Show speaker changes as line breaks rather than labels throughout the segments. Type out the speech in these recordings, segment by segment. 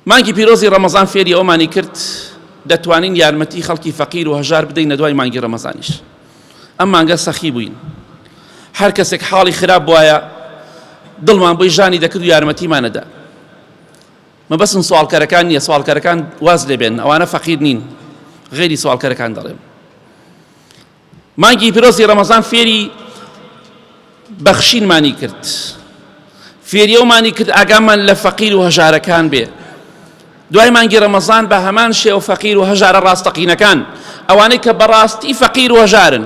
مانگی پیرۆزی ڕەمەزان فێری ئەوەمانی کرد دەتوانین یارمەتی خەڵکی فەقیر و هەژار بدەینە دوای مانگی ڕەمەزانیش ئەم مانگە سەخی بووین هەر کەسێک حاڵی خراپ بواە دڵمان بۆی ژانی دەکرد و یارمەتیمانەدا مەبەسم سوالکەرەکان نییە سوالکەرەکان واز لێبێن ئەوانە فەقیر نین غێری سوالکەرەکان دەڵێن مانگی پیرۆزی ڕەمەزان فێری بەخشینمانی کرد فێری ئەومانی کرد ئاگامان لە فەقیر و هەژارەکان بێ دوای مانگی ڕەمەزان بە هەمان شێ و فەقیر و هەژارە ڕاستەقینەکان ئەوانەی کە بەڕاستی فەقیر و هەژارن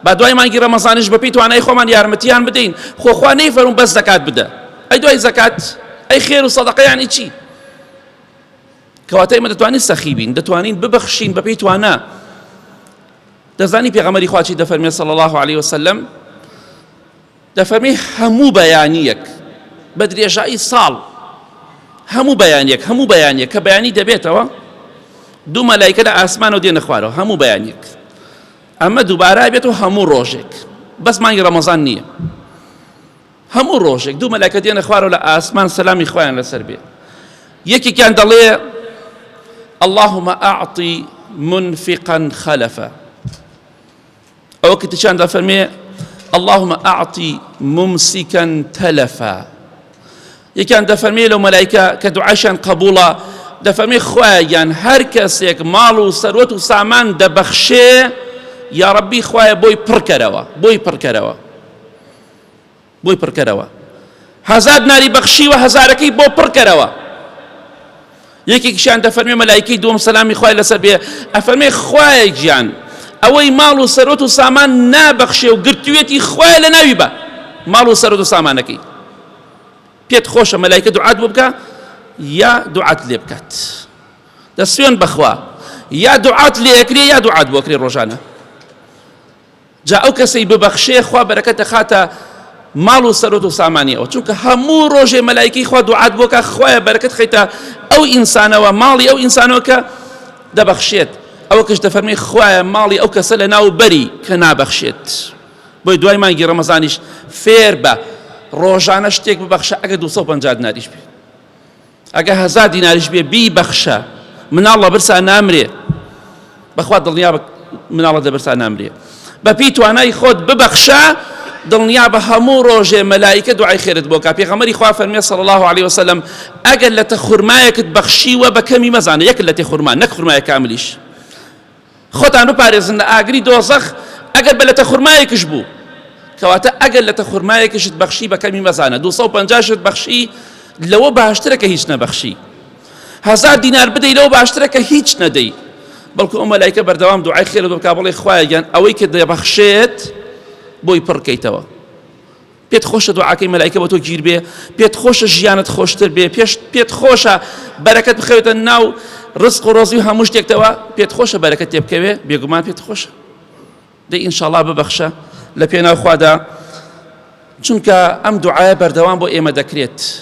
با دوای مانگی ڕەمەزانش بەپی توانای خۆمان یارمەتیان بدەین خۆخوا نەی فەرون بەس دەکات بدە ئەی دوای زەکات ئەی خێر و سەدەقەیانی چی کەواتە ئێمە دەتوانین سەخی بین دەتوانین ببەخشین بەپێی توانا دەزانی پێغەمەری خواچی دەفەرمێ صلی الله عليه وسلم دەفەرمی هەموو بەیانیەک بە درێژایی ساڵ هەموو بەیانیەک هەموو بەیانیە کە بەیانی دەبێتەوە دوو مەلایکە لە ئاسمانەوە دێنە خوارەوە هەموو بەیانیەک ئەمە دووبارە بێت و هەموو ڕۆژێک بەس مانگی ڕەمەزان نییە هەموو ڕۆژێک دوو مەلەکە دێنە خوارەوە لە ئاسمان سەلامی خوایان لەسەر بێ یەکێکیان دەڵێ اللهم اعطی منفقا خلفا ئەوە کە تیشان دەفەرمێ اللهم اعطی ممسكا تلفا یەکیان دەفەرمێ لەو مەلایکە کە دوعاشان قبوڵە دەفەرمێ خوایان هەر کەسێک ماڵ و سەروەت و سامان دەبەخشێ یا ڕەبی خوایە بۆی پڕکەرەوە بۆی پڕکەرەوە بۆی پڕکەرەوە هەزار ناری بەخشیوە هەزارەکەی بۆ پڕکەرەوە یەکێکیشان دەفەرمێ مەلایکی دووەم سەلامی خوای لەسەر بێ ئەفەرمێ خوایە گیان ئەوەی ماڵ و سەرۆت و سامان نابەخشێ و گرتوێتی خوای لە ناوی بە ماڵ و سەرۆت و سامانەکەی پێت خۆشە مەلایکە دوعات بۆ بکە یا دوعات لێ بکات دەسوێن بەخوا یا دوعات لێکرێ یا دوعات بۆکرێ ڕۆژانە جا ئەو کەسەی ببەخشێ خوا بەرەکەت دەخاتە ماڵ و سەرۆت و سامانی ئەو چونکە هەموو ڕۆژێ مەلایکی خوا دوعات بۆکە خوایە بەرەکەت خەیتە ئەو ئینسانەوە ماڵی ئەو ئینسانەوە کە دەبەخشێت ئەوە کەش دەفەرمی خوایە ماڵی ئەو کەسە لە ناو بەری کە نابەخشێت بۆی دوای مانگی ڕەمەزانیش فێر بە ڕۆژانە شتێک ببەخشە ئەگە 250 ناریش بێت ئەگە هەزار دیناریش بێ بی بەخشە مناڵ لە برسا نامرێ بەخوا دڵنیا بە مناڵە دە برسا نامرێ بەپی توانای خۆت ببەخشە دڵنیا بە هەموو ڕۆژێ مەلایکە دوعای خێرت بۆکە پێغەمەری خوا فەرمیێ سەڵ الله عليه وسلم ئەگەر لە تە خورمایەکت بەخشیوە بە کەمی مەزانە یەک لە تێ خورمان نەک خورمایە کاملیش خۆتان بپارێزن لە ئاگری دۆزەخ ئەگەر بە لەتە خورمایەکش بوو کەواتە ئەگەر لەتە خورمایەکشت بەخشی بە کەمی مەزانە دوو سەد و پەنجا شت بەخشی لەوە باشترە کە هیچ نەبەخشی هەزار دینار بدەی لەوە باشترە کە هیچ نەدەی بەڵکو ئەو مەلایکە بەردەوام دوعای خێرت بکا بڵێ خوایە گیان ئەوەی کە دەبەخشێت بۆی پڕکەیتەوە پێت خۆشە دوعاکەی مەلایکە بۆ تۆ گیر بێ پێت خۆشە ژیانت خۆشتر بێ پێش پێت خۆشە بەرەکەت بخەوێتە ناو ڕزق و ڕۆزی و هەموو شتێکتەوە پێت خۆشە بەرەکە تێ بکەوێ بێگومان پێت خۆشە دە ئینشاڵا ببەخشە لە پێناوخوادا چونکە ئەم دوعاە بەردەوام بۆ ئێمە دەکرێت